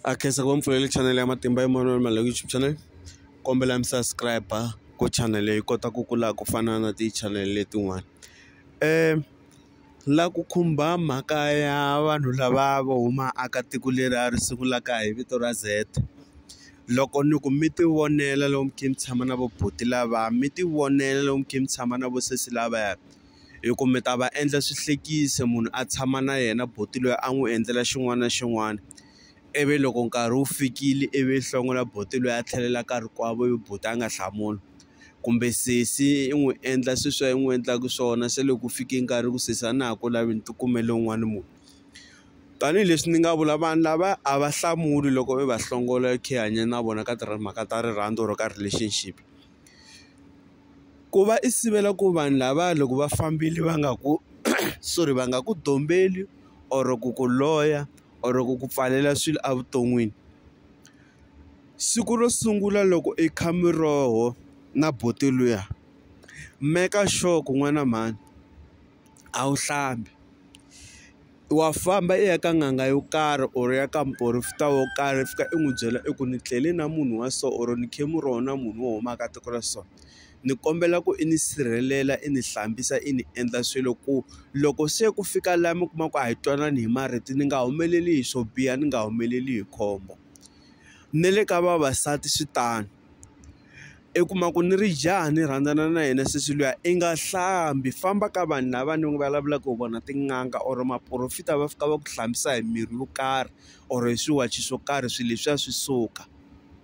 a khensa ku va mpfulele chanele ya matimba ya Emmanuel Maluleke YouTube channel kombela mi subscribe ku channel yi kota ku kula ku fana na ti-channel letin'wana um la ku khumba mhaka ya vanhu lava vo huma aka tiko leri a ri sungulaka hi vito ra Z loko ni ku mi ti vonela lomu khe mi tshama na vo buti lava mi ti vonela lomu khe mi tshama na vo sesi lavaya. hi ku mi ta va endla swihlekisa munhu a tshama na yena buti loyi a n'wi endlela xin'wana na xin'wana ivi loko nkarhi wu fikile ivi hlongola buti loyi a tlhelela ka rikwavo ivi buti a nga hlamuli kumbe sesi i n'wi endla sweswi i n'wi endlaka swona se loko ku fike nkarhi ku sesi a na ha ku lavi ni ti kumele un'wana munhu tanihileswi ni nga vula vanhu lava a va hlamuli loko i va hlongola i khe i hanya na vona ka timhaka ta rirhandzu or ka relationship. ku va i sivela ku vanhu lava loko va fambile va nga ku sorry va nga ku dombeli or ku ku loya or ku ku pfalela swilo evuton'wini siku ro sungula loko i kha miroho na buti luya meka sure ku n'wana mhani a wu hlambi. wa famba i ya ka n'anga yo karhi or ya ka muporofeta wo karhi i fika i n'wi byela i ku ni tlele na munhu wa so or ni khe mu rona munhu wo huma ka tiko ra so ni kombela ku i ni sirhelela i ni hlambisa i ni endla swilo ku loko se ku fika laha mi kuma ku a hi twanani hi marito ni nga humeleli hi swo biha ni nga humeleli hi khombo ni le ka vavasati swi tano. i kuma ku ni ri jaha ni rhandzana na yena sesi luya i nga hlambi famba ka vanhu lava ni vulavulaka hi vona tin'anga or maporofita va fika va ku hlambisa hi mirhi yo karhi or hi swiwachi swo karhi swilo leswiya swi suka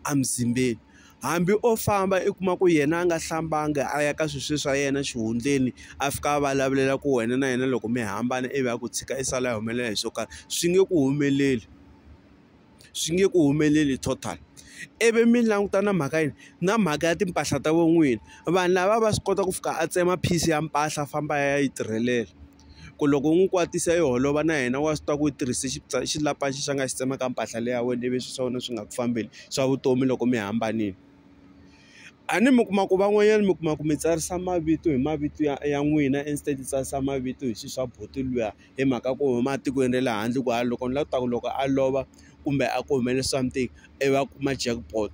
emuzimbeni hambi o famba i kuma ku yena a nga hlambanga a ya ka swilo sweswi swa yena xihundleni a fika a vulavulela ku wena na yena loko mi hambana ivi a ku tshika i sala a humelela hi swo karhi swi nge ku humeleli. swi nge ku humeleli total ivi mi languta na mhaka yini na mhaka ya timpahla ta vo n'wini vanhu lava va swi kota ku fika a tsema piece ya mpahla a famba a ya yi tirhelela ku loko u n'wi kwatisa yi holova na yena wa swi tiva ku yi tirhise xilapa lexi a nga xi tsemaka mpahla leyi ya wena ivi swilo swa wena swi nga ku fambeli swa vutomi loko mi hambanile a ni mi kuma ku van'wanyana mi kuma ku mi tsarisa mavito hi mavito ya ya n'wina instead tsarisa mavito hi swilo swa buti luya. hi mhaka ku huma etikweni ra le handle ku a loko ni la ku ta ku loko a lova kumbe a ku humelele something i va kuma jackpot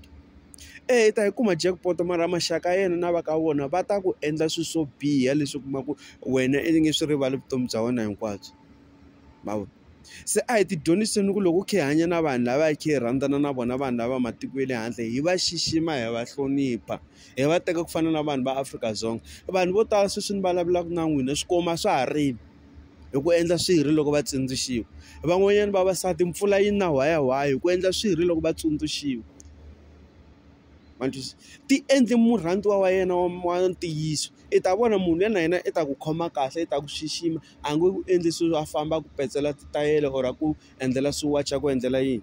eyi ta yi kuma jackpot mara maxaka ya yena na va ka vona va ta ku endla swilo swo biha leswi u kuma ku wena i nge swi rivali vutomi bya wena hinkwabyo ma vo se a hi ti dyondziseni ku loko u kha i hanya na vanhu lava hi kha hi rhandzana na vona vanhu lava matiko ya le handle hi va xixima hi va hlonipha hi va teka ku fana na vanhu va Afrika-Dzonga vanhu vo tala sweswi ni vulavulaka na n'wina swikwembu a swa ha rili. hi ku endla swirho loko va tsundzuxiwa van'wanyana vavasati mpfula yi na whaya whaya hi ku endla swirho loko va tsundzuxiwa ma ni twisisa ti endli murhandziwa wa yena wa wa ntiyiso i ta vona munhu luya na yena i ta ku khoma kahle i ta ku xixima a nge ku endli swilo a famba a ku petsela titayele or a ku endlela swiwachi a ku endlela yini.